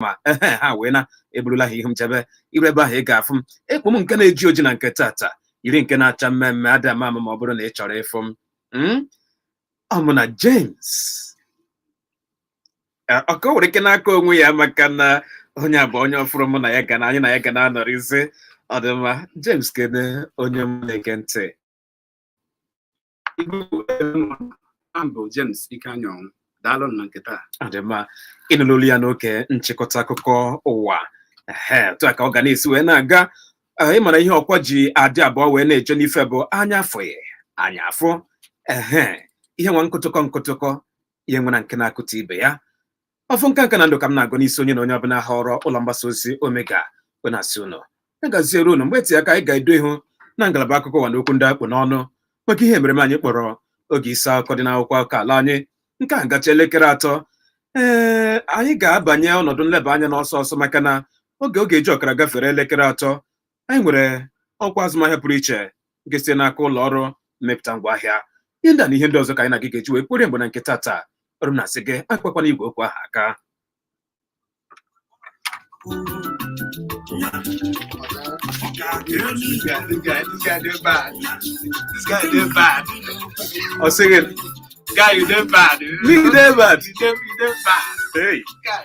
ma ehe ha wee na eburula ha ihu m jebe i ruo ebe ahụ ị ga-afụ m ekpu m nke na-eji oji na nke tata yiri nke na-acha mmee mmee ada m ama ma ọ bụrụ na ị chọrọ ịfụ m Mm? ọ mụ na James Eh, ọ ka o nwere ike n'aka onwe ya maka na onye a bụ onye ọfụrụ mụ na ya ga na anyị na ya ga na-anọrịzi ọ dị mma James kene onye mụ na-ege ntị bụ James Ikenyanwụ daalụ na nke taa ọ dị mma ị nụna olu ya n'oge nchịkọta akụkọ ụwa otu a ka ọ ga na-esi wee na-aga ị mara ihe ọkwa ji adị abụọ wee na-eje n'ife bụ anya afụghị anya afụ ehe ihe nwa nkụtụkọ nkụtụkọ ihe nwere nke na-akụta ibe ya ọfọ nke nka na ndụ ka m na-agọ n'isi onye na onye ọbụla họrọ ụlọ mgbasa ozi omega bụ na-asị ụnụ ya gaziere ụnụ mgbe eteghị aka anyị ga-edo ihu na ngalaba akụkọ ụwa na okwu ndị a kpụ n'ọnụ maka ihe emereme anyị kpọrọ oge isi akụkọ dị n'akwụkwọ akụkọ ala anyị nke a gacha elekere atọ ee anyị ga-abanye ọnọdụ nleba anya n'ọsọ ọsọ maka na oge ọ ga-eji ọkara gafere elekere atọ anyị nwere ọkwa azụmahịa pụrụ iche nke site n'aka ụlọ ọrụ mmepụta ngwaahịa ihe ndị a na ihe ndị ọzọ ka anyị na gị ga-eji wee kporie mgbe na nke tata ọrụ m na-asị gị akpakwana igwe okwu ahụ aka ọ sị gị Guy, you dey bad. You dey bad. You dey bad. Hey. Guy.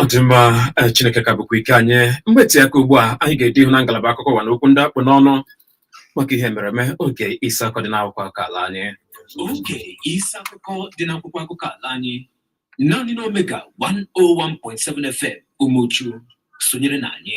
ọ dị mma eh, chineke ka bụkwa ike anyị mgbe eteghị aka ugbu a anyị ga-edo ihu na ngalaba akụkọ ụwa na okwu ndị a kpụ n'ọnụ maka ihe emereme oge isi akụkọ dị n'akwụkwọ akụkọ ala anyị oge isi akụkọ dị n'akwụkwọ akụkọ ala anyị naanị n'omega 101.7 fm umuchu sonyere na anyị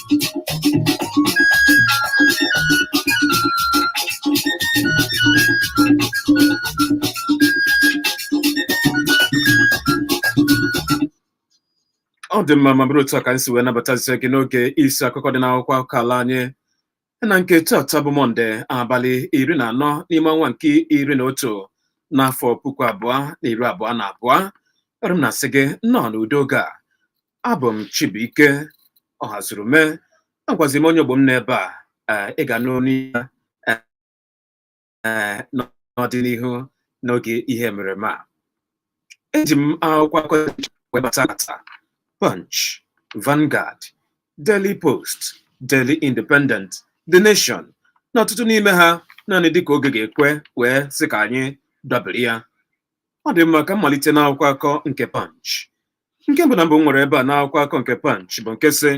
ọ dị mma ma bụrụ otu a ka anyị si wee nabatazie gị n'oge isi akụkọ dị n'akwụkwọ akụkọ ala anyị na nke tata bụ mọnde abalị iri na anọ n'ime ọnwa nke iri na otu n'afọ puku abụọ na iri abụọ na abụọ ọrụ m na-asị gị nnọọ n'udo oge a abụ m Chibuike Ọhazurume agwazi m onye ogbo m n'ebe a ee, ị ga-anụ onu ya ee, ee, n'ọdịnihu n'oge ihe emereme a eji m akwụkwọ akụkọ wee bata tata Punch, Vanguard, Daily Post, Daily Independent, The Nation na ọtụtụ n'ime ha naanị dịka oge ga-ekwe wee sị ka anyị dabere ya ọ dị mma ka m malite n'akwụkwọ akụkọ nke Punch nke mbụ na mbụ m nwere ebe a n'akwụkwọ akụkọ nke Punch bụ nke sị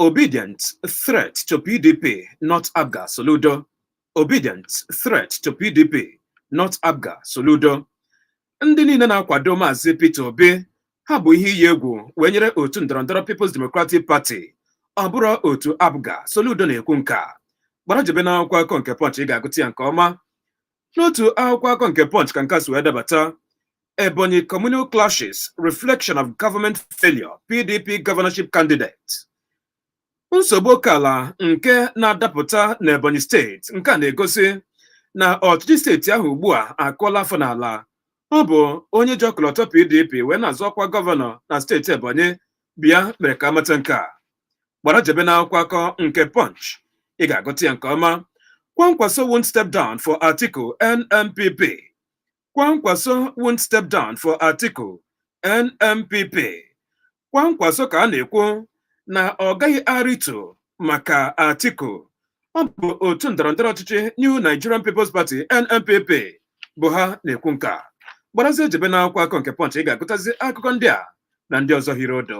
Obidients threat to PDP not APGA Soludo Obidients threat to PDP not APGA Soludo ndị niile na-akwado maazị Peter Obi ha bụ ihe iyi egwu wee nyere otu ndọrọndọrọ People's Democratic Party ọ bụrọ otu APGA Soludo na-ekwu nke a gbara jebe n'akwụkwọ akụkọ nke Punch ị ga-agụta ya nke ọma N'otu akwụkwọ akụkọ nke Punch ka nke a si wee dabata Ebonyi Communal Clashes Reflection of Government Failure PDP Governorship Candidate nsogbu oke ala nke na-adapụta n'Ebonyi steeti nke a na-egosi na ọchịchị steeti ahụ ugbu a akụọla afọ n'ala ọ bụ onye ji ọkọlọtọ PDP wee na-azọ ọkwa gọvanọ na steeti Ebonyi bịa mere ka a mata nke a gbara jebe n'akwụkwọ akụkọ nke Punch ị ga-agụta ya nke ọma Kwankwaso won't step down for Atiku NNPP Kwankwaso won't step down for Atiku NNPP Kwankwaso ka a na-ekwu na ọ gaghị arịtu maka Atiku ọ bụ otu ndọrọndọrọ ọchịchị New Nigerian People's Party NNPP bụ ha na-ekwu nke a gbarazie jebe n'akwụkwọ akụkọ nke Punch ị ga-agụtazi akụkọ ndị a na ndị ọzọ hiri odo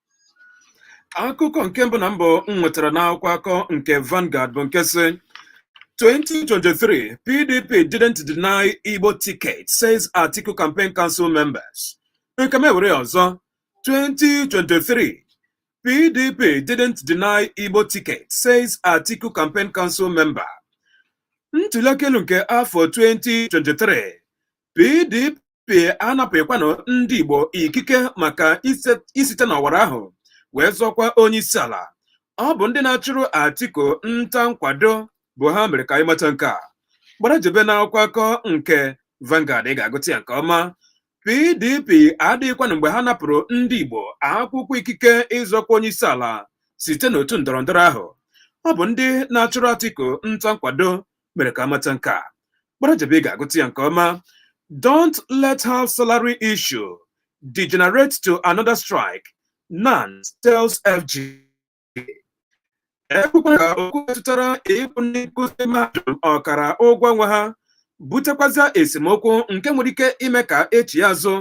akụkọ nke mbụ na mbụ m nwetara n'akwụkwọ akụkọ nke Vanguard bụ nke sị 2023 PDP didn't deny Igbo ticket says Atiku campaign council members nke m ewere ọzọ 2023 PDP didn't deny Igbo ticket says Atiku campaign council member ntụliaka elu nke afọ 2023 PDP anapụghịkwanụ ndị Igbo ikike maka isite n'ọwara ahụ wee zọọ ọkwa onye isi ala ọ bụ ndị na-achụrụ Atiku nta nkwado bụ ha mere ka anyị mata nke a gbara jebe n'akwụkwọ akụkọ nke Vanguard ị ga-agụta ya nke ọma PDP adịghịkwanụ mgbe ha napụrụ ndị Igbo akwụkwọ ikike ịzọ ọkwa onye isi ala site n'otu ndọrọndọrọ ahụ ọ bụ ndị na-achụrụ Atiku nta nkwado mere ka a mata nke a gbara jebe ị ga-agụta ya nke ọma don't let half salary issue degenerate to another strike NANS tells FG ekwekwala ka okwu metụtara ịkwụ ndị nkụzi mahadum ọkara ụgwọ ọnwa ha butekwazịa esemokwu nke nwere ike ime ka e chighaa azụ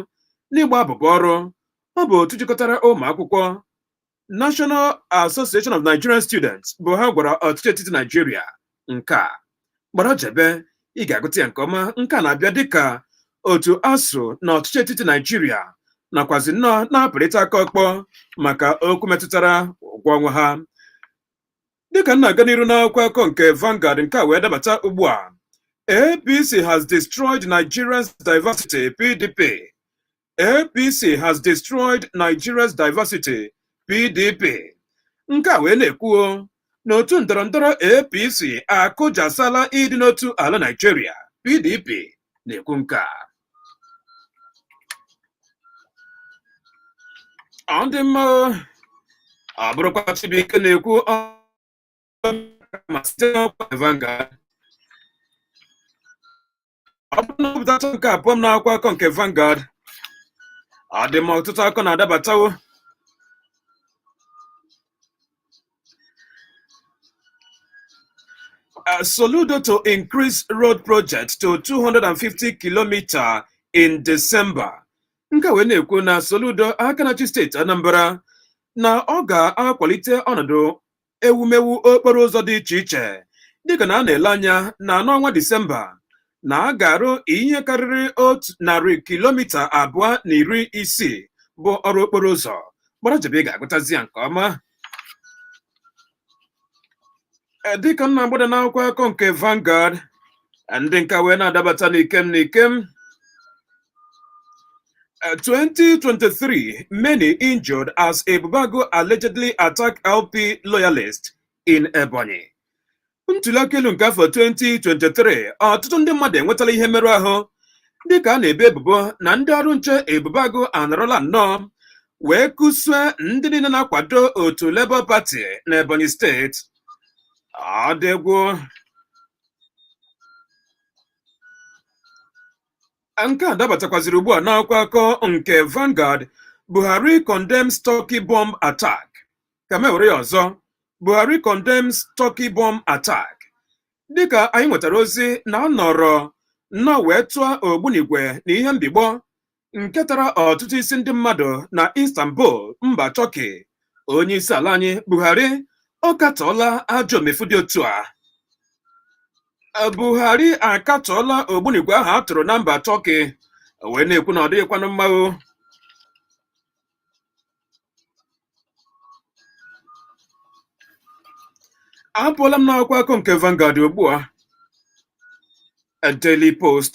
n'ịgba abụbọ ọrụ ọ bụ otu jikọtara ụmụ akwụkwọ National Association of Nigerian Students bụ ha gwara ọchịchị etiti Naijiria nke a gbara jebe ị ga-agụta ya nke ọma nke a na-abịa dịka otu ASUU na ọchịchị etiti Naijiria nakwazi nnọọ na-apụrịta aka ọkpọ maka okwu metụtara ụgwọ ọnwa ha dịka m na-aga n'iru n'akwụkwọ akụkọ nke Vanguard nke a wee dabata ugbu a APC has destroyed Nigeria's diversity PDP APC has destroyed Nigeria's diversity PDP nke a wee na-ekwuo na otu ndọrọ ndọrọ APC akụjasala ịdị n'otu ala Nigeria PDP na-ekwu nke a ọ dị mma ọ bụrụkwa Chibuike na-ekwu ma site n'ọkwa Vanguard ọ bụrụ na a gụtacha nke a apụọ m n'akwụkwọ akụkọ nke Vanguard ọ dị mma ọtụtụ akụkọ na-adabatawo Uh, Soludo to increase road project to 250 kilometres in December. Nke a wee na-ekwu na Soludo aka na-achị steeti Anambra na ọ ga-akwalite ọnọdụ ewumewu okporo ụzọ dị iche iche dịka na a na-ele anya na n'ọnwa Disemba na a ga-arụ ihe karịrị otu narị kilomita abụọ na iri isii bụ ọrụ okporo ụzọ gbara jebe ị ga-agụtazi ya nke ọma Eh, dịka m na-agbada n'akwụkwọ akụkọ nke Vanguard eh, ndị nke a wee na-adabata n'ikem n'ikem Uh, 2023, many injured as Ebubeagu allegedly attacked LP loyalists in Ebonyi. Ntuli aka elu nke afọ 2023, ọtụtụ ndị mmadụ enwetala ihe mmerụ ahụ dịka a na-ebe ebubo na ndị ọrụ nche Ebubeagu anọrọla nnọọ wee kụsue ndị niile na-akwado otu Labour Party na Ebonyi steeti. Ọ dị egwu nke a dabatakwaziri ugbu a n'akwụkwọ akụkọ nke Vanguard Buhari condemns Turkey bomb attack ka m were ya ọzọ Buhari condemns Turkey bomb attack dịka anyị nwetara ozi na a nọrọ nnọọ wee tụọ ogbunigwe na ihe mbigbọ nke tara ọtụtụ isi ndị mmadụ na Istanbul mba Turkey onye isi ala anyị Buhari ọ katọọla ajọ omefu dị otu a Buhari akatọọla ogbunigwe ahụ a tụrụ na mba Turkey wee na-ekwu na ọ dịghịkwanụ mma o apụọla m n'akwụkwọ akụkọ nke Vanguard ugbu a Daily Post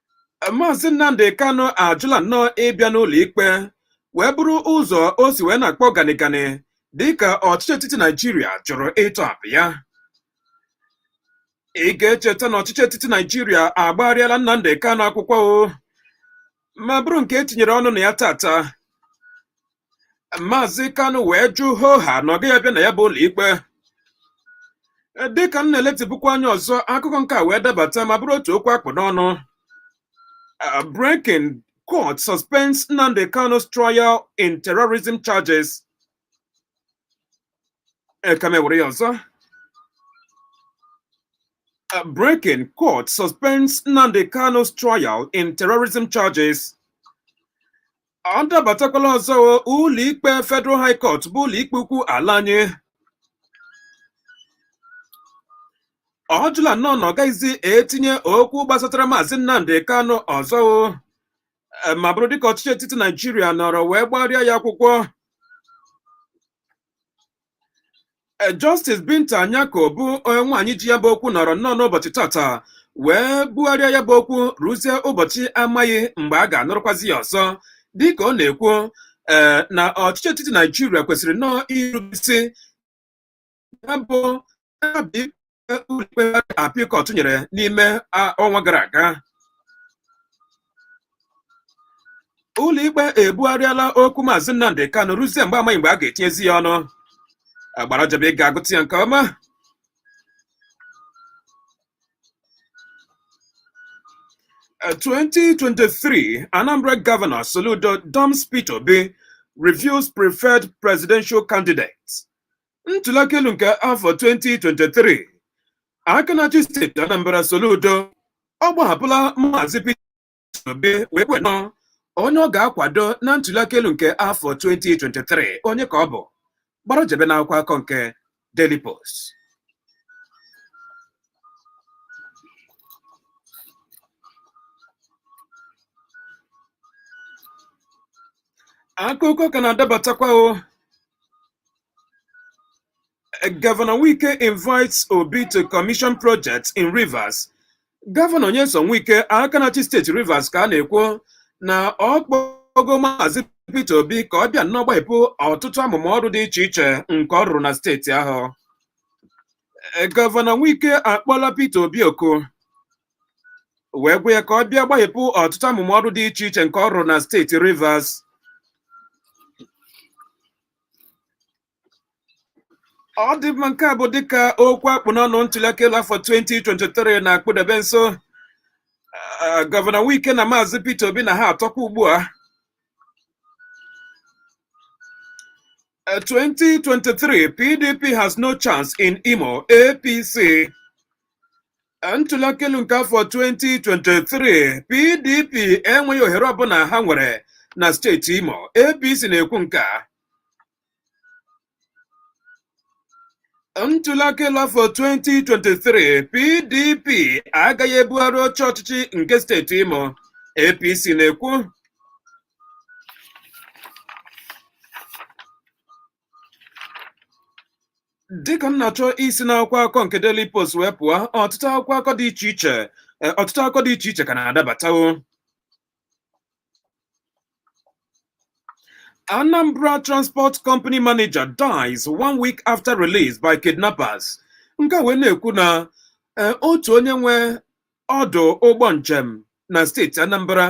Maazị Nnamdi Kanu ajụla nnọọ ịbịa n'ụlọ ikpe wee bụrụ ụzọ o si wee na-akpọ ganịganị dịka ọchịchị etiti Naijiria jụrụ ịtọhapụ ya. Ị ga-echeta na ọchịchị etiti Naijiria agbagharịala Nnamdi Kanu akwụkwọ o ma bụrụ nke e tinyere ọnụ na ya taata Maazị Kanu wee jụ hoo ha na ọ gaghị abịa na ya bụ ụlọikpe dịka m na-eletịpụkwa anya ọzọ akụkọ nke a wee dabata ma bụrụ otu okwu a kpụ n'ọnụ Uh, breaking court suspends Nnamdi Kanu's trial in terrorism charges. E ka m were ya ọzọ. Uh, breaking court suspends Nnamdi Kanu's trial in terrorism charges. ọ dabatakwala ọzọ o, ụlọikpe Federal High Court bụ ụlọikpe ukwu ala anyị ọ jụla nnọọ na ọ gaghịzi etinye okwu gbasatara maazị Nnamdi Kanu ọzọ o Eh, ma bụrụ dịka ọchịchị etiti Naijiria nọrọ wee gbarịa ya akwụkwọ E, Justice Binta Nyako bụ nwaanyị ji ya bụ okwu nọrọ nnọọ n'ụbọchị tata wee bugharịa ya bụ okwu ruzie ụbọchị amaghị mgbe a ga-anụrụkwazi ya ọzọ dịka ọ na-ekwu ee na ọchịchị etiti Naijiria kwesịrị nnọọ irube isi ya bụ ụlọikpe appeal court nyere n'ime a- ọnwa gara aga ụlọikpe ebugharịala okwu maazị Nnamdi Kanu ruzie mgbe amaghị mgbe a ga-etinyezi ya ọnụ gbara jebe ị ga-agụta ya nke ọma Uh, 2023 Anambra Governor Soludo dumps Peter Obi reveals preferred presidential candidate. ntuliaka elu nke afọ 2023 aka na-achị steeti Anambra Soludo ọ gbahapụla maazị Peter Obi wee kwuo nnọọ onye ọ ga-akwado na ntuliaka elu nke afọ 2023 onye ka ọ bụ gbara jebe n'akwụkwọ akọ nke Daily Post akụkọ ka na-adabatakwa o Governor Wike invites Obi to commission projects in Rivers. Gọvanọ Nyesom Wike aka na-achị steeti Rivers ka a na-ekwu na ọ kpọgo Maazị Peter Obi ka ọ bịa nnọọ gbahepụ ọtụtụ amụma ọrụ dị iche iche nke ọ rụrụ na steeti ahụ. Gọvanọ Wike akpọla Peter Obi oku wee gwa ya ka ọ bịa gbahepụ ọtụtụ amụma ọrụ dị iche iche nke ọ rụrụ na steeti Rivers. ọ dị mma nke a bụ dịka okwu a kpụ n'ọnụ ntuliaka elu afọ 2023 na-akpụdebe nso eh, gọvanọ Wike na maazị Peter Obi na ha atọkwa ugbu a 2023 eh, PDP has no chance in Imo APC ntụliaka elu nke afọ 2023 PDP enweghị ohere ọbụla ha nwere na steeti Imo APC na-ekwu nke a ntụliaka elu afọ 2023 PDP agaghị ebugharị oche ọchịchị nke steeti Imo APC na-ekwu dịka m na-achọ isi n'akwụkwọ akụkọ nke Daily Post wee pụọ ọtụtụ akwụkwọ akụkọ dị iche iche e, ọtụtụ akụkọ dị iche iche ka na-adabatawo Anambra Transport Company Manager dies one week after release by kidnappers nke a wee na-ekwu na e, otu onye nwe ọdụ ụgbọ njem na steeti Anambra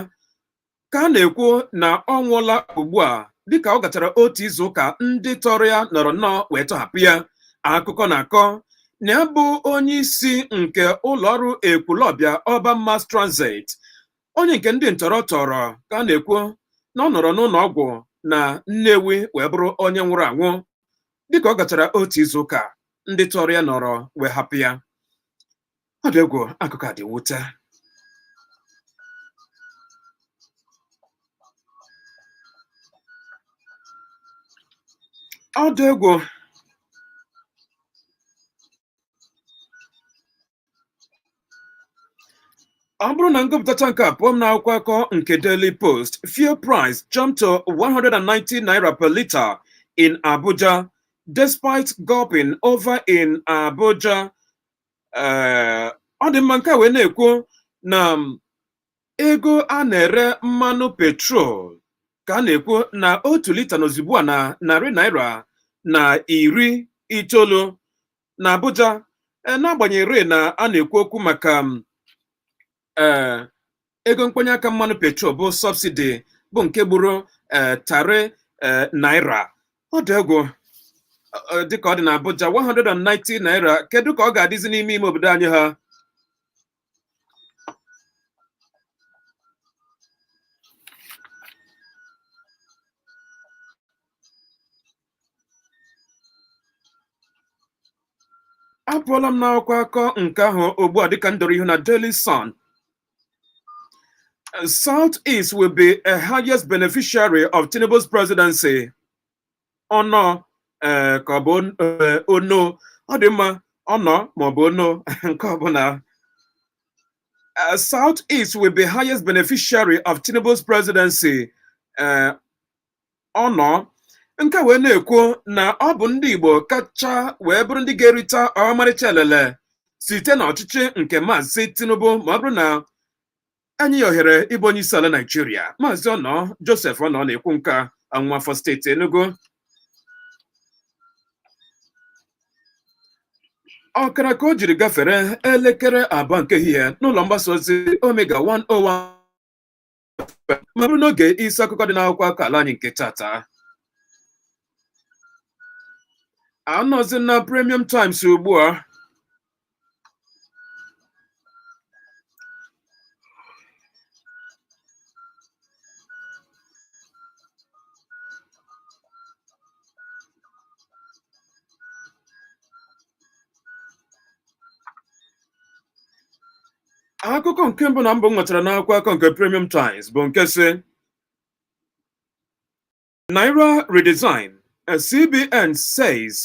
ka a na-ekwu na ọ nwụọla ugbu a dịka ọ gachara otu izu ụka ndị tọrọ ya nọrọ nnọọ wee tọhapụ ya akụkọ na-akọ na ya bụ onye isi nke ụlọọrụ Ekwulọbịa Urban Mass Transit onye nke ndị ntọrọ tọrọ ka a na-ekwu na ọ nọrọ n'ụlọ ọgwụ na Nnewi wee bụrụ onye nwụrụ anwụ dịka ọ gachara otu izu ụka ndị tọrọ ya nọrọ wee hapụ ya ọ dị egwu akụkọ a dị mwute ọ dị egwu ọ bụrụ na m gụpụtacha nke a apụọ m n'akwụkwọ akụkọ nke Daily Post fuel price jumped to 190 naira per litre in Abuja despite gulping over in Abuja ee ọ dị mma nke a wee na-ekwu na ego a na-ere mmanụ petrol ka a na-ekwu na otu lita nọzi ugbu a na narị naira na iri itoolu na Abuja n'agbanyeghị na a na-ekwu okwu maka ee eh, ego mkponye aka mmanụ petrol bụ subsidy bụ nke gburu ee eh, tarị ee eh, naira ọ dị egwu dịka ọ dị na Abuja 190 naira kedu ka ọ ga-adịzi n'ime ime obodo anyị ha apụọla m n'akwụkwọ akụkọ nke ahụ ugbu a dịka m doro ihu na Daily Sun South East will be a highest beneficiary of Tinubu's presidency ọnọ eh, ka ọ bụ eh, ono ọ dị mma ọnọ maọbụ ono nke ọbụla eh, South East will be highest beneficiary of Tinubu's presidency Ọnọ nke wee na-ekwu na ọ bụ ndị Igbo kacha wee bụrụ ndị ga-erita ọmarịcha elele site n'ọchịchị nke maazị Tinubu ma ọ bụrụ na enye ya ohere ịbụ onye isi ala Naijiria maazị Ọnọ Joseph Ọnọ na-ekwu nke a nwafọ steeti Enugu ọkara ka o jiri gafere elekere abụọ nke ehihie n'ụlọ mgbasa ozi Omega 101 ma bụrụ n'oge isi akụkọ dị n'akwụkwọ akụkọ ala anyị nke tata anọzi na premium times ugbu a akụkọ nke mbụ na mbụ m nwetara n'akwụkwọ akụkọ nke Premium Times bụ nke sị Naira redesign CBN says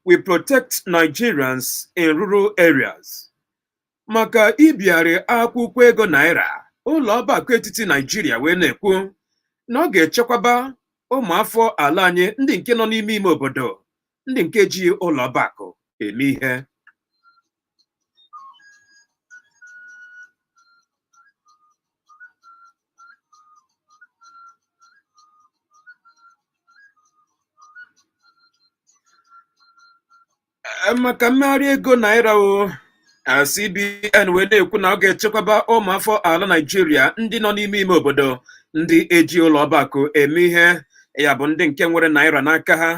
will protect Nigerians in rural areas maka ibigharị akwụkwọ ego naira ụlọ ọba akụ etiti Naijiria wee na-ekwu na ọ ga-echekwaba ụmụafọ ala anyị ndị nke nọ n'ime ime obodo ndị nke ji ụlọ ọba akụ eme ihe Eh, maka mmegharị ego naira o eh, CBN wee na-ekwu na ọ ga-echekwaba ụmụafọ ala Naịjirịa ndị nọ n'ime ime obodo ndị eji ụlọ ọba akụ eme ihe ya bụ ndị nke nwere naira n'aka ha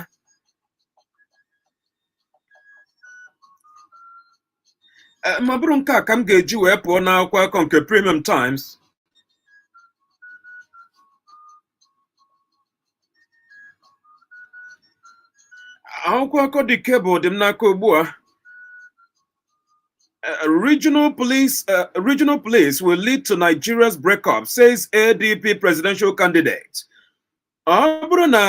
Eh, ma bụrụ nke a ka m ga-eji wee pụọ n'akwụkwọ akụkọ nke Premium Times akwụkwọ akụkọ The Cable dị m n'aka ugbu a eh, regional police uh, regional police will lead to Nigeria's breakup says ADP presidential candidate ọ bụrụ na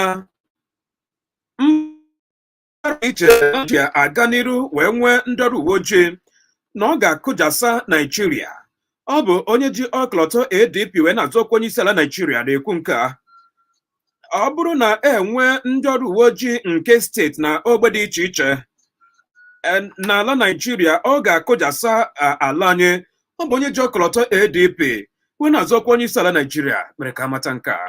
mba dị iche iche aga n'iru wee nwee ndị ọrụ uwe ojii na ọ ga-akụjasa Naijiria ọ bụ onye ji ọkọlọtọ ADP wee na-azọ ọkwa onye isi ala Naijiria na-ekwu nke a ọ bụrụ na enwe ndị ọrụ uwe ojii nke steeti na ogbe dị iche iche n'ala Naijiria ọ ga-akụjasa ala anyị ọ bụ onye ji ọkọlọtọ ADP wee na-azọ ọkwa onye isi ala Naijiria mere ka amata nke a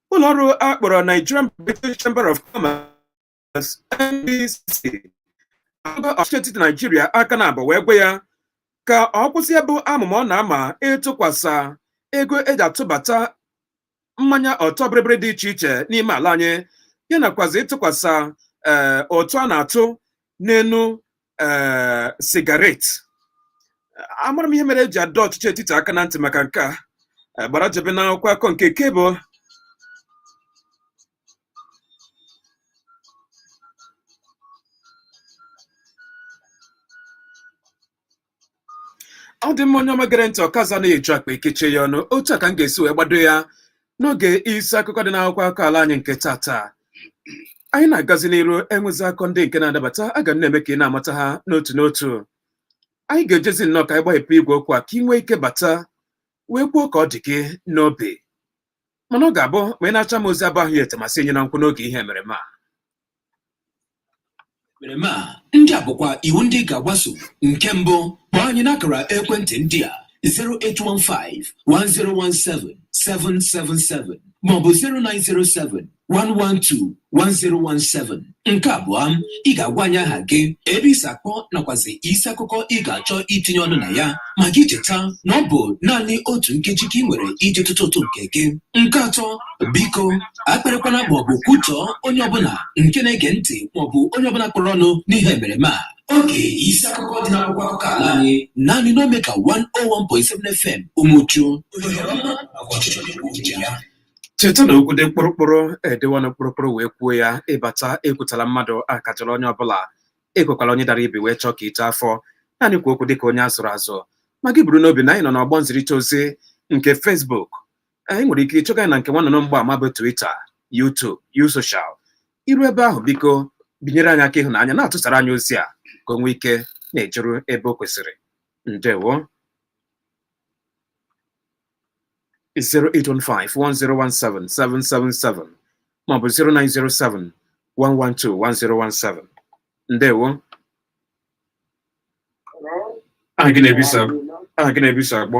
ụlọọrụ a kpọrọ Nigerian British Chamber of Commerce NBCC agba ọchịchị etiti Naijiria aka n'abụ wee gwa ya ka ọ kwụsị ya bụ amụma ọ na-ama ịtụkwasa ego eji atụbata mmanya ọtọ bịrịbịrị dị iche iche n'ime ala anyị ya nakwazi ịtụkwasa ee eh, ụtụ a na-atụ n'enu eh, sigaret amara m ihe mere eji adọ ọchịchị etiti aka na ntị maka nke a Eh, gbara jebe n'akwụkwọ akọ nke Cable ọ dị mma onye ọma gere ntị ọkaza na eju akpa ekechie ya ọnụ otu a ka m ga-esi wee gbado ya n'oge isi akụkọ dị n'akwụkwọ akụkọ ala anyị nke taata anyị na-agazi n'iru enwezi akọ ndị nke na-adabata aga m na-eme ka ị na-amata ha n'otu n'otu anyị ga-ejezi nnọọ ka anyị gbahepụ igwe okwu a ka ị nwee ike bata wee kwuo ka ọ dị gị n'obi mana ọ ga-abụ ma ị nacha m ozi abụ ahụ ya etemasị enye na nkwụ n'oge ihe emereme a emereme a ndị a bụkwa iwu ndị ị ga-agbaso nke mbụ kpọọ anyị n'akara ekwentị ndị a 0815 1017 777 maọbụ 0907 112 1017 nke abụọ ị ga-agwa anyị aha gị ebe i si akpọ nakwazi isi akụkọ ị ga-achọ itinye ọnụ na ya ma gị cheta na ọ bụ naanị otu nkeji ka ị nwere iji tụtụ ụtụ nke gị nke atọ biko akparịkwana maọbụ kwutọọ onye ọbụla nke na-ege ntị maọbụ onye ọbụla kpọrọ ọnụ n'ihe emereme a oge isi akụkọ dị n'akwụkwọ akụkọ ala anyị naanị n'Omega 101.7 FM Umuchu cheta na okwu dị mkpụrụkpụrụ edewa ọnụ mkpụrụkpụrụ wee kwuo ya ị bata ekwutọla mmadụ akọchala onye ọbụla ekwekwala onye dara ibi wee chọọ ka i too afọ naanị kwuo okwu dịka onye azụrụ azụ ma gị buru n'obi na anyị nọ n'ọgbọ nzirịta ozi nke Facebook ị nwere ike ịchọga anyị na nke nwannụnụ mgbaama bụ Twitter YouTube U-Social i ru ebe ahụ biko binyere anyị aka ịhụnanya na-atụsara anyị ozi a ka o nwee ike na-ejeru ebe o kwesịrị ndewo 08151017777 maọbụ 09071121017 ndewo aha gị na ebe i si akpọ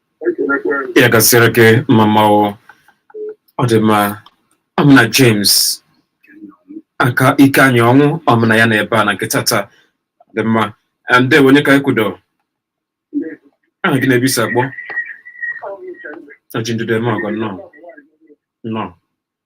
ya gaziere gị mmamma ọ dị mma ọ mụ na James aka ike anyị ọnwụ ọ mụ na ya nọ ebe a na nke taata dị mma ndewo onye ka anyị kwudo aha gị na ebe i si akpọ oji ndụdụ eme ọgọ nnọọ nnọọ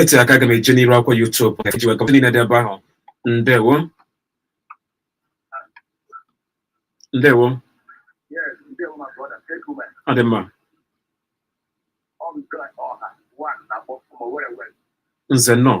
etu aka aga m eje n'iru akwụkwọ YouTube iji wee kọpụta niile dị ebe ahụ ndewo ndewo ọ dị mma nze nnọọ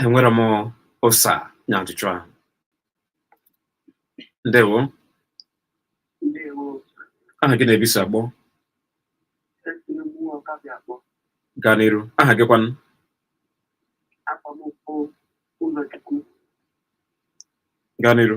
enwere m ụsa nye ajụjụ ahụ ndewo aha gị na ebe i si akpọ gaa n'iru aha gị kwanụ gaa n'iru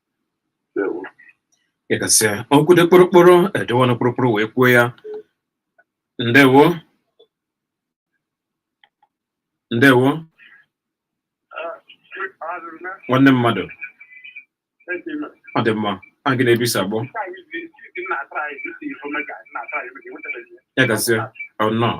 Ndewo. ị ga-asị okwu dị kpụrụkpụrụ e dewe ọnụ kpụrụkpụrụ wee kwuo ya ndewo ndewo nwanne mmadụ ọ dị mma aha gị na ebe i si akpọ ya gasị ọ nnọọ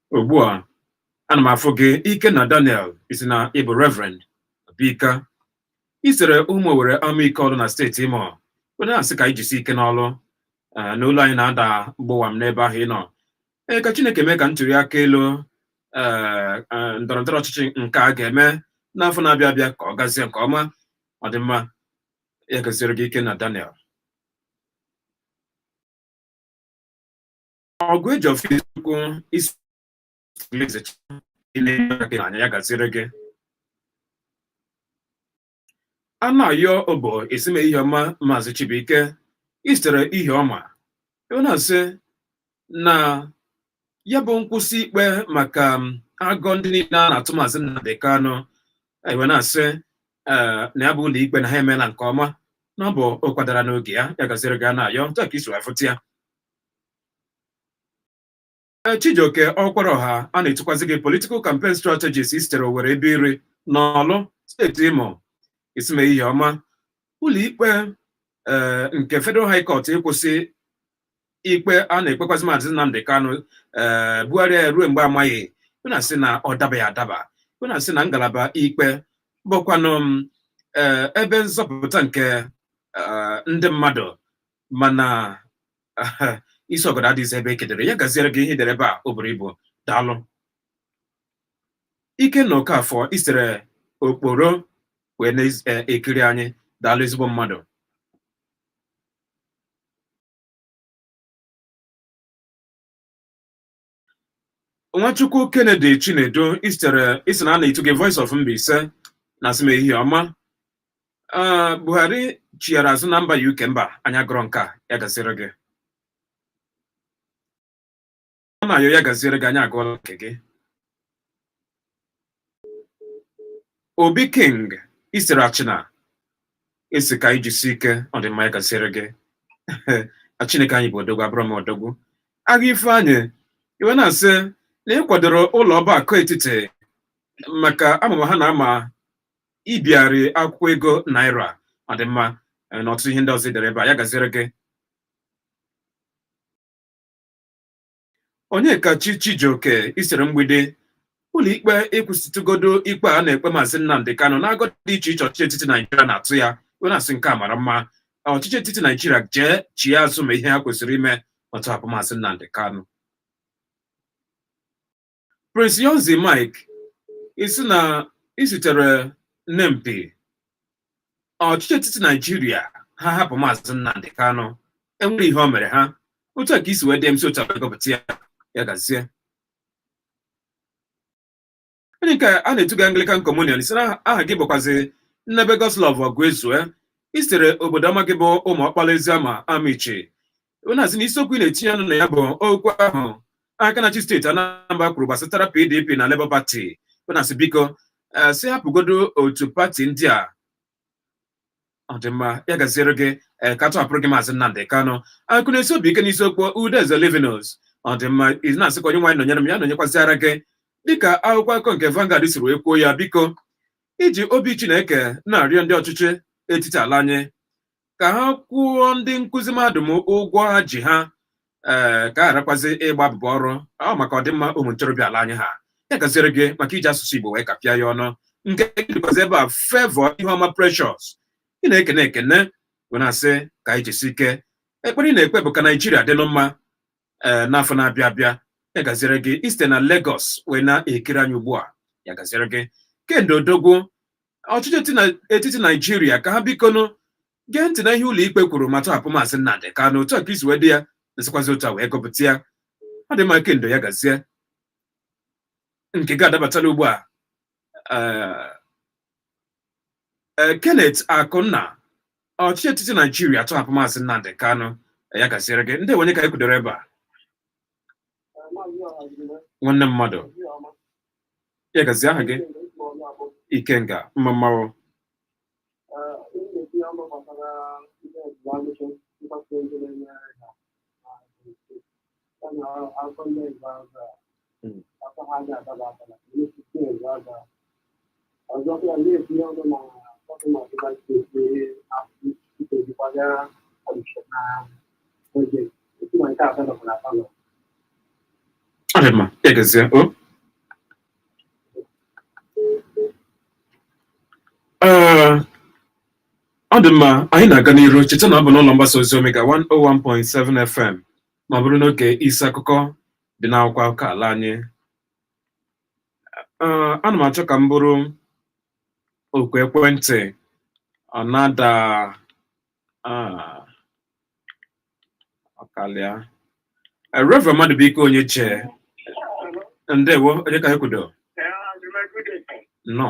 ugbu a ana m afụ gị Ikenna Daniel ị sị na ị bụ Reverend Bika i sere Ụmụowere Amaike Ọlụ na steeti Imo i wee na-asị ka anyị jisie ike n'ọrụ eh, na olu anyị na-ada gbọwam n'ebe ahụ ị nọ ee ka chineke mee ka ntuli aka elu eh, eh, ndọrọ ndọrọ ọchịchị nke a ga-eme n'afọ na-abịa abịa ka ọ gazie nke ọma ọ dị mma ya gaziere gị Ikenna Daniel Ọgụejiọfọ isiokwu isi na anya ya gaziere gị Anayọ Obo esime ihe ọma maazị Chibuike i sitere Ihiọma i wee na-asị na ya bụ nkwụsị ikpe maka agọ ndị niile a na-atụ maazị Nnamdi Kanu i wee na-asị ee na ya bụ ụlọ ikpe na ha emeela nke ọma na ọ bụ ọkwa dara n'oge ya ya gaziere gị Anayọ etu a ka i si wee fụta ya Eh, Chijioke Ọkwaraọha a na-etukwazị gị political campaign strategist i sitere Owerri Ebeiri n'Ọlụ steeti Imo isime ihe ọma ụlọikpe eh, nke Federal High Court ịkwụsị ikpe a na-ekpekwazị Maazị Nnamdi Kanu eh, bugharịa ya ruo mgbe amaghị i wee na-asị na ọ dabaghị adaba i wee na-asị na ngalaba ikpe bụkwanụ ebe nzọpụta nke ndị mmadụ mana isi ọgọdọ adịghịzi ebe e kedere ya gaziere gị ihe i dere ebe a o buru ibu daalụ Ikenna Okafọ i sere Okporo wee na-ekiri e, anyị daalụ ezigbo mmadụ Nwachukwu Kennedy Chinedu i sitere ị sị na a na-etu gị Voice of Mbaise na-asị m ehihie ọma Ah, Buhari chighara azụ na mba UK mba anyị gụrụ nke a ya gaziere gị ọ na-ayọ ya gaziere gị anyị agụọla nke gị obi king i sitere Achịna asị ka anyị jisi ike ọ dị mma ya gaziere gị chineke anyị bụ odogwu abụrụ m odogwu agha ifeanyị i wee na-asị na ị kwadoro ụlọ ọba akụ etiti maka amụma ha na-ama ibigharị akwụkwọ ego naira ọ dị mma eh, na ọtụtụ ihe ndị ọzọ i dere ebe a ya gaziere gị Onyekachi Chijioke i sitere Mgbidi ụlọikpe ịkwụsịtụgodo ikpe a na-ekpe maazị Nnamdị Kanụ n'agọ dị iche iche ọchịchị etiti Naijiria na-atụ ya wee na-asị nke a mara mma ọchịchị etiti Naijiria jee chie azụ ma ihe ha kwesịrị ime ịtọhapụ maazị Nnamdị Kanụ Prince Younzy Mike ị sị na i sitere Nempi ọchịchị etiti Naijiria ha hapụ maazị Nnamdị Kanụ e nwere ihe o mere ha otu a ka i si wee dee m si otu a gụpụta ya ya gazie onye nke a na-etu gị Anglican Communion ị sị na aha gị bụkwazi Nnebe Godslove Ọgụezue i sitere obodo ọma gị bụ Ụmụọkpala Eziama Amichi ebe na-asị na isiokwu ị na-etinye ọnụ na ya bụ okwu ahụ aka na-achị steeti Anambra kwuru gbasatara PDP na Labour Party ebe na-asị biko eh, sị hapụgodo otu pati ndị a ọ dị mma ya gaziere gị eh, ka a tọhapụrụ gị maazị Nnamdị Kanụ akụ na-esi obi ike n'isiokwu Udeze Livinus ọ dị mma ị na-asị ka Onyenwe anyị nọnyere m ya nọnyekwaziara gị dịka akwụkwọ akụkọ nke Vanguard siri wee kwuo ya biko i ji obi Chineke na-arịọ ndị ọchịchị etiti ala anyị ka ha kwụọ ndị nkụzi mahadum ụgwọ ha ji ha ee ka a gharakwazi ịgba abụba ọrụ ọ maka ọdịmma ụmụ ntorobịa ala anyị ha ya gaziere gị maka iji asụsụ Igbo wee kapịa ya ọnụ nke gị dịkwazi ebe a Favour Iheọma Precious ị na-ekene ekene wee na-asị ka anyị jisi ike ekpere ị na-ekpe bụ ka Naijiria dịlụ mma ee n'afọ na-abịa abịa ya gaziere gị i site na Lagos wee na-ekiri anyị ugbu a ya gaziere gị kendo odogwu ọchịchị eti na- etiti naijiria ka ha bikonụ gee ntị na ihe ụlọikpe kwuru ma tọhapụ maazị nnamdị kanụ otu a ka i si wee dee ya m sikwazi otu a wee gụpụta ya ọ dị mma kendo ya gazie nke gị adabatala ugbu a eh, eh, kenneth akụnna ọchịchị etiti naijiria tọhapụ maazị nnamdị kanụ ya gaziere gị ndị nwe anyị ka anyị kwudoro ebe a nwanne mmadụ ya gazie aha gị ikenga mma mmanwụ ọzọkwa na-etinye ọnụ na gọvanọ ọdịba steeti akwụkwọzikwaga kọmishọna oge otu na nke atọ nọbụ na palọ ọ dị mma ya gazie o Ee, ọ dị mma anyị na-aga n'iru cheta na ọ bụ n'ụlọ mgbasa ozi omega 101.7 fm ma ọ bụrụ n'oge isi akụkọ dị n'akwụkwọ akụkọ ala anyị Ee, ana m achọ ka m buru oku ekwentị ọ na-ada ah, ọ kalịa Eh, Reverend Madụbụike onye chee ndewo onye ka e kwudo nọ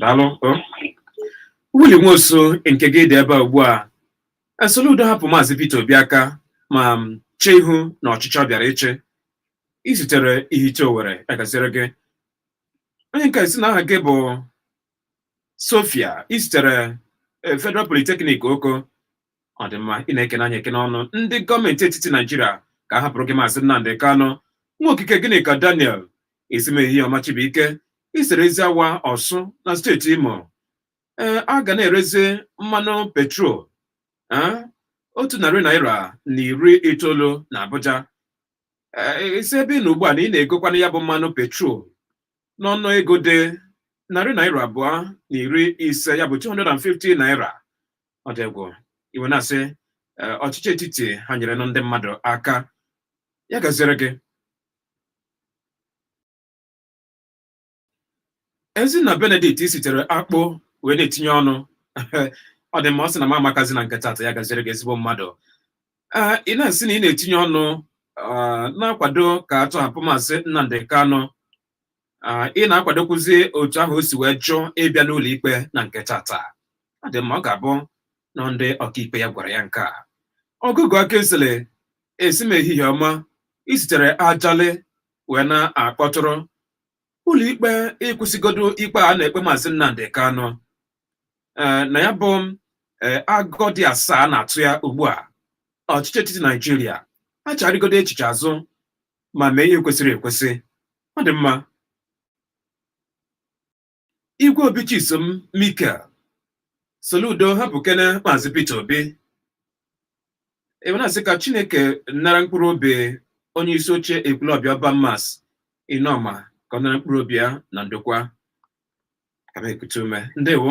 daalụ Willie Nwosu nke gị dị ebe a ugbu a e Soludo hapụ maazị Peter Obi aka ma chee ihu na ọchịchị ọ bịara ịchị isitere Ihite Owere ya gaziere gị onye nke a ị sị na aha gị bụ Sofia isitere Federal Polytechnic Oko ọ dị mma ị na-ekene anyị ekene ọnụ ndị gọọmenti etiti naijiria ka a hapụrụ gị maazị nnamdị kanụ nwa okike Ginika Daniel esi m ehihie ọma Chibuike isere Eziawa Ọsụ na steeti imo ee a ga na-erezi mmanụ petrol ee, otu narị naira na iri itoolu na abuja Ee, ị sị ebe ị nọ ugbu a na ị na-egokwana ya bụ mmanụ petrol n'ọnụ ego dị narị naira abụọ na iri ise ya bụ 250 naira ọ dị egwu ị wee na-asị eh, ọchịchị etiti ha nyerenụ ndị mmadụ aka ya gaziere gị ezinna benedict sitere akpụ wee na-etinye ọnụ ọ dị mma ọ sị na m amakazi na nke tata ya gaziere gị ezigbo mmadụ ee ị na-asị na ị na-etinye ọnụ ah, na-akwado ka a tọhapụ maazị nnamdị kanụ ị na-akwadokwuzi otu ahụ o si wee jụ ịbịa n'ụlọ ikpe na nke tata ọ dị mma ọ ga-abụ na ndị ọkaikpe ya gwara ya nke a ọgụgụ aka esele esi m ehihie ọma isitere ajali wee na-akpọtụrụ ụlọ ikpe ịkwụsịgodo ikpe a na-ekpe maazị Nnamdi Kanu ee na ya bụ ee agụgọ dị asaa na-atụ ya ugbu a ọchịchị etiti Naijiria achagharịgodo echiche azụ ma mee ihe kwesịrị ekwesị ọ dị mma igwe obi chisom mikel soludo hapụkene maazị peter obi ị wee na-asị ka chineke nara mkpụrụ obi onye isi oche ekwulọbịa urban mass inoma ka ọ nara mkpụrụ obi ya na ndokwa ka m ekute ume ndewo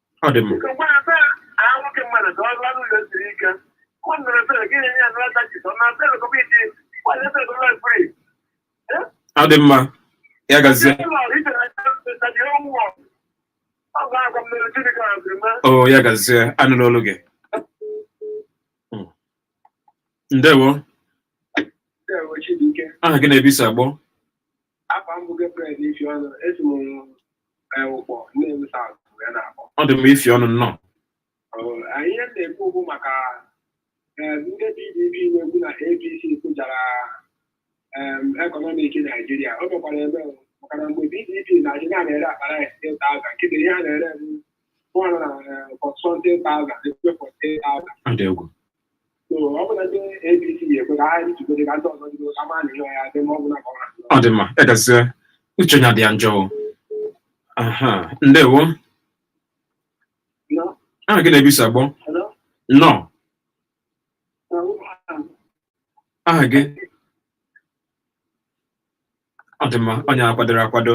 ọ dị mma ọ dị mma ya gazie o ya gazie a nụrụ olu gị Mm. ndewo aha gị na ebe i si akpọ ọ dị mma isi ọnụ nnọọ ihe m na-ekwu okwu maka ndị PDP na-ekwu na APC kụjara ekọnọmik Naijiria o mekwara eme maka na mgbe PDP na-achị a na-ere akpa rice ten thousand kịta ihe a na-ere bụ 140,000 ọ dị egwu ọ dị mma ya gazie uche onye adị ya njọ o. aha ndewo aha gị na ebe i si akpọ nnọọ aha gị ọ dị mma onye akwadoro akwado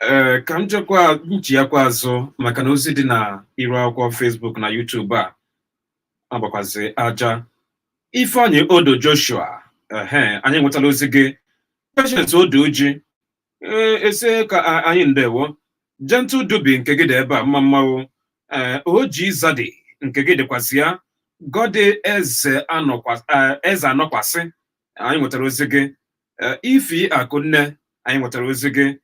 ee ka m jekwa m chiyakwa azụ maka na ozi dị na iru akwụkwọ Facebook na YouTube a ọ bụkwazi aja ifeanyị odo joshua ehe anyị nwetala ozi gị patience odo uji ee ị sị ka a- anyị ndewo gentle dubi nke gị dị ebe a mma mma nụ ee oji zadi nke gị dịkwazị ya goddy ezeanọkwa- eh, ezeanọkwasị anyị nwetara ozi gị Eh, ify akụnne anyị nwetara ozi gị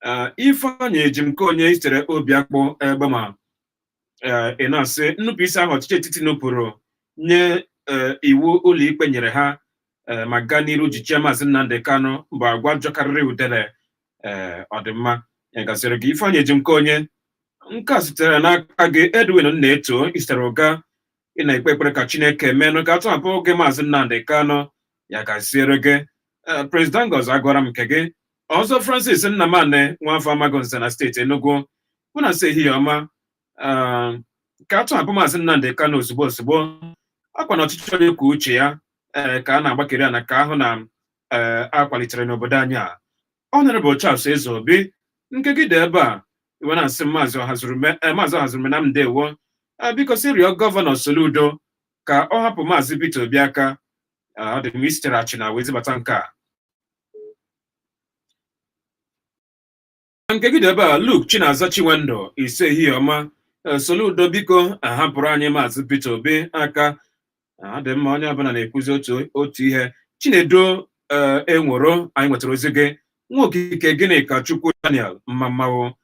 Eh, ifeanyị ejimkeonye i sitere obiakpụ egbema eh, ị na-asị nnupụisi ahụ ọchịchị etiti nupụrụ nye eh, iwu ụlọikpe nyere ha eh, ma gaa n'iru jichie maazị Nnamdi Kanu bụ agwa jọkarịrị udele ee ọ dị mma ya gaziere gị Ifeanyi Ejimkeonye nke a sitere n'aka gị Edwin Nnaeto i sitere Uga ị na-ekpe ekpere ka chineke meenụ ka a tọhapụ gị maazị nnamdị kanụ ya gaziere gị Ee, Prince Dangos agụọla m nke gị ọzọ Francis Nnamani nwafọ Amagunze na steeti Enugu ị na-asị ehihie ọma Ee, ka a tọhapụ maazị Nnamdị Kanu ozugbo ozugbo ọkwa na ọchịchị onye kwuo uche ya ee, ka a na-agbakiri ana ka a hụ na ee, a kwalitere n'obodo anyị a Honorable Charles Ezeobi nke gị dị ebe a i wee na-asị maazị Ọhazurume eh, maazị Ọhazurume nna m ndewo Ah, biko si rịọ gọvanọ Soludo ka ọ hapụ maazị Peter Obi aka Ah, ọ dị mma i sitere Achịna wee zibata nke a nke gị dị ebe a Luke Chinaza Chinwendu ị sị ehihie ọma Eh, Soludo biko ahapụrụ anyị maazị Peter Obi aka ọ dị mma onye ọbụla na-ekwuzi otu otu ihe Chinedu ee enwero anyị nwetara ozi gị Nwokike Gịnịkachukwu daniel mmammawo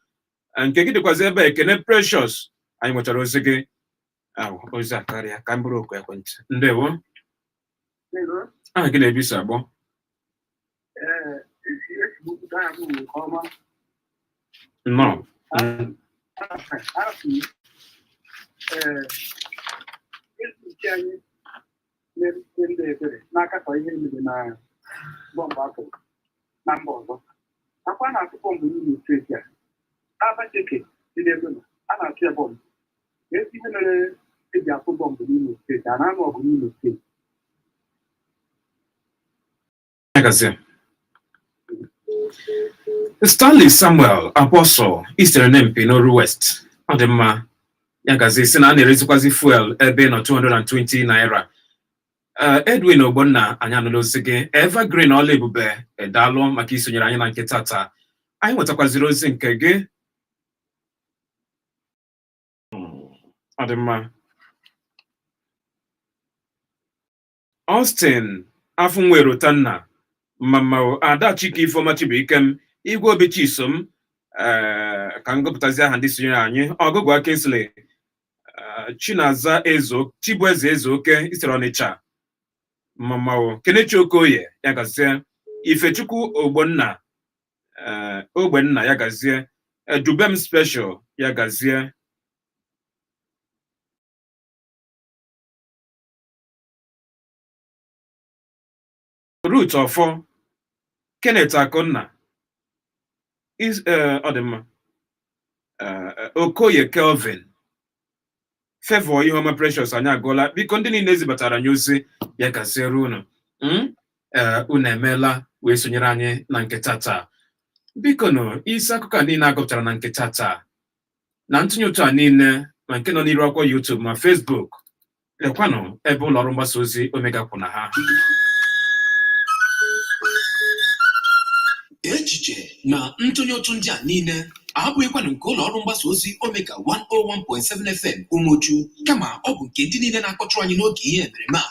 nke gị dịkwazi ebe a, ekene precious anyị nwetara ozi gị ahụ ozi akarịa ka m buru oku ekwentị ndewo aha gị na ebe i si akpọ nnọọ ndị ebere na-akatọ ihe mere na bọmbụ a tụ na mba ọzọ ọ kwa a na-atụ bọmbụ n'Imo steeti a Abacheke dị n'Egbema a na-atụ ya bọmbụ ezi ihe mere e ji atụ bọmbụ n'Imo steeti a na-anụ ọgụ n'Imo steeti Ya gazie. Stanley Samuel Apostle i sitere Nempi n'Oru West ọ dị mma ya gazie ị sị na a na-erezikwazi fuel ebe ị nọ 220 naira Eh, Edwin Ogbonna anyị anụla ozi gị Evergreen ọla ebube daalụ maka i sonyere anyị na nke tata anyị nwetakwaziri ozi nke gị Hmm, ọ dị mma Austin Afụnwaerotanna, Mmammawo, Ada Chike Ifeoma Chibuikem, Igwe Obi Chisom, eh, ka m gụpụtazi aha ndị sonyere anyị, Ọgụgụa Kingsley, eh, Chinaza Ezo, Chibueze Ezeoke, i sitere Ọnịcha, Mmammawo, Kenechi Okoye, ya gazie, Ifechukwu Ogbonna, eh, Ogbenna, ya gazie, eh, Dubem Special, ya gazie, Ruth Ọfọ Kenneth Akụnna eh, ọ dị mma eh, eh, Okoye Kelvin Favour Iheoma Precious anyị agụọla biko ndị niile zibatara anyị ozi ya gaziere unu hmm? unu emeela wee sonyere anyị na nke tataa bikonụ isi akụkọ a niile a gụpụtara na nke tataa na ntụnye ụtụ a niile ma nke nọ n'iru akwụkwọ YouTube ma Facebook lekwanụ ebe ụlọ ọrụ mgbasa ozi Omega kwụ na ha echiche na ntụnye ụtụ ndị a niile abụghịkwanụ nke ụlọ ọrụ mgbasa ozi Omega 101.7 FM Umuchu kama ọ bụ nke ndị niile na-akpọtụrụ anyị n'oge ihe emereme a